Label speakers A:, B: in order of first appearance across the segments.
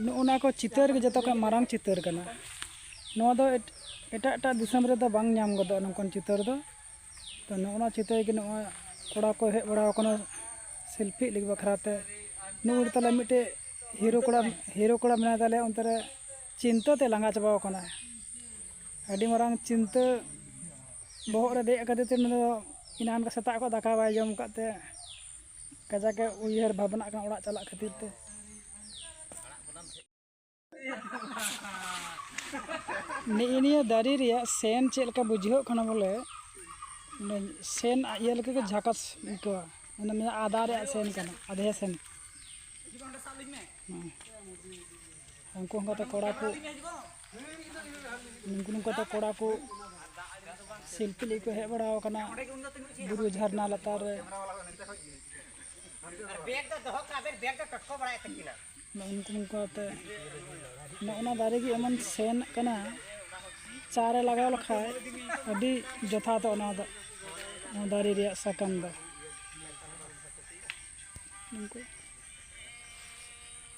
A: ᱱᱚᱜᱼᱚᱱᱟ ᱠᱚ ᱪᱤᱛᱟᱹᱨ ᱜᱮ ᱡᱚᱛᱚ ᱠᱷᱚᱱ ᱢᱟᱨᱟᱝ ᱪᱤᱛᱟᱹᱨ ᱠᱟᱱᱟ ᱱᱚᱣᱟ ᱫᱚ ᱮᱴᱟᱜ ᱮᱴᱟᱜ ᱫᱤᱥᱚᱢ ᱨᱮᱫᱚ ᱵᱟᱝ ᱧᱟᱢ ᱜᱚᱫᱚᱜᱼᱟ ᱱᱚᱝᱠᱟᱱ ᱪᱤᱛᱟᱹᱨ ᱫᱚ ᱛᱚ ᱱᱚᱜᱼᱚᱱᱟ ᱪᱤᱛᱟᱹᱨ ᱜᱮ ᱱᱚᱜᱼᱚᱭ ᱠᱚᱲᱟ ᱠᱚ ᱦᱮᱡ ᱵᱟᱲᱟᱣ ᱠᱟᱱᱟ ᱥᱮᱞᱯᱷᱤᱜ ᱞᱟᱹᱜᱤᱫ ᱵᱟᱠᱷᱨᱟ ᱛᱮ ᱱᱩᱭ ᱦᱚᱲ ᱛᱟᱞᱮ ᱢᱤᱫᱴᱮᱡ ᱦᱤᱨᱳ ᱠᱚᱲᱟ ᱦᱤᱨᱳ ᱠᱚᱲᱟ ᱢᱮᱱᱟᱭ ᱛᱟᱞᱮᱭᱟ ᱚᱱᱛᱮ ᱨᱮ ᱪᱤᱱᱛᱟᱹ ᱛᱮ ᱞᱟᱸᱜᱟ ᱪᱟᱵᱟᱣ ᱠᱟᱱᱟᱭ ᱟᱹᱰᱤ ᱢᱟᱨᱟᱝ ᱪᱤᱱᱛᱟᱹ ᱵᱚᱦᱚᱜ ᱨᱮ ᱫᱮᱡ ᱠᱟᱫᱮ ᱛᱮ ᱩᱱᱤ ᱫᱚ ᱮᱱᱟᱱ ᱥᱮᱛᱟᱜ ᱠᱷᱚᱱ ᱫᱟᱠᱟ ᱵᱟᱭ ᱡᱚᱢ ᱟᱠᱟᱫ ᱛᱮ ᱠᱟᱡᱟᱠ ᱮ ᱩᱭᱦᱟᱹᱨ ᱵᱷᱟᱵᱽᱱᱟᱜ ᱠᱟᱱᱟ ᱚᱲᱟᱜ ᱪᱟᱞᱟᱜ ᱠᱷᱟᱹᱛᱤᱨ ᱛᱮ ᱱᱤᱭᱟᱹ ᱱᱤᱭᱟᱹ ᱫᱟᱨᱮ ᱨᱮᱭᱟᱜ ᱥᱮᱱ ᱪᱮᱫ ᱞᱮᱠᱟ ᱵᱩᱡᱷᱟᱹᱜ ᱠᱟᱱᱟ ᱵᱚᱞᱮ ᱥᱮᱱ ᱤᱭᱟᱹ ᱞᱮᱠᱟ ᱜᱮ ᱡᱷᱟᱠᱟᱥ ᱟᱹᱭᱠᱟᱹᱣᱟ ᱚᱱᱟ ᱢᱮᱱᱟᱜᱼᱟ ᱟᱫᱟ ᱨᱮᱭᱟᱜ ᱥᱮᱱ ᱠᱟᱱᱟ ᱟᱫᱷᱮ ᱥᱮᱱ ᱩᱱᱠᱩ ᱚᱱᱠᱟᱛᱮ ᱠᱚᱲᱟ ᱠᱚ ᱱᱩᱠᱩ ᱱᱚᱝᱠᱟᱛᱮ ᱠᱚᱲᱟ ᱠᱚ ᱥᱮᱞᱯᱷᱤ ᱞᱟᱹᱜᱤᱫ ᱠᱚ ᱦᱮᱡ ᱵᱟᱲᱟ ᱟᱠᱟᱱᱟ ᱵᱩᱨᱩ ᱡᱷᱟᱨᱱᱟ ᱞᱟᱛᱟᱨ ᱨᱮ ᱱᱩᱠᱩ ᱱᱚᱝᱠᱟᱛᱮ ᱱᱚᱜᱼᱚ ᱱᱟ ᱫᱟᱨᱮ ᱜᱮ ᱮᱢᱚᱱ ᱥᱮᱱ ᱠᱟᱱᱟ ᱪᱟ ᱨᱮ ᱞᱟᱜᱟᱣ ᱞᱮᱠᱷᱟᱡ ᱟᱹᱰᱤ ᱡᱚᱛᱷᱟᱛᱚᱜᱼᱟ ᱚᱱᱟ ᱫᱚ ᱚᱱᱟ ᱫᱟᱨᱮ ᱨᱮᱭᱟᱜ ᱥᱟᱠᱟᱢ ᱫᱚ ᱱᱩᱠᱩ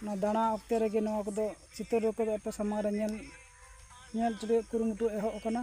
A: ᱚᱱᱟ ᱫᱟᱬᱟ ᱚᱠᱛᱮ ᱨᱮᱜᱮ ᱱᱚᱣᱟ ᱠᱚᱫᱚ ᱪᱤᱛᱟᱹᱨ ᱠᱚᱫᱚ ᱟᱯᱮ ᱥᱟᱢᱟᱝ ᱨᱮ ᱧᱮᱞ ᱧᱮᱞ ᱦᱚᱪᱚ ᱨᱮᱭᱟᱜ ᱠᱩᱨᱩᱢᱩᱴᱩ ᱮᱦᱚᱵ ᱟᱠᱟᱱᱟ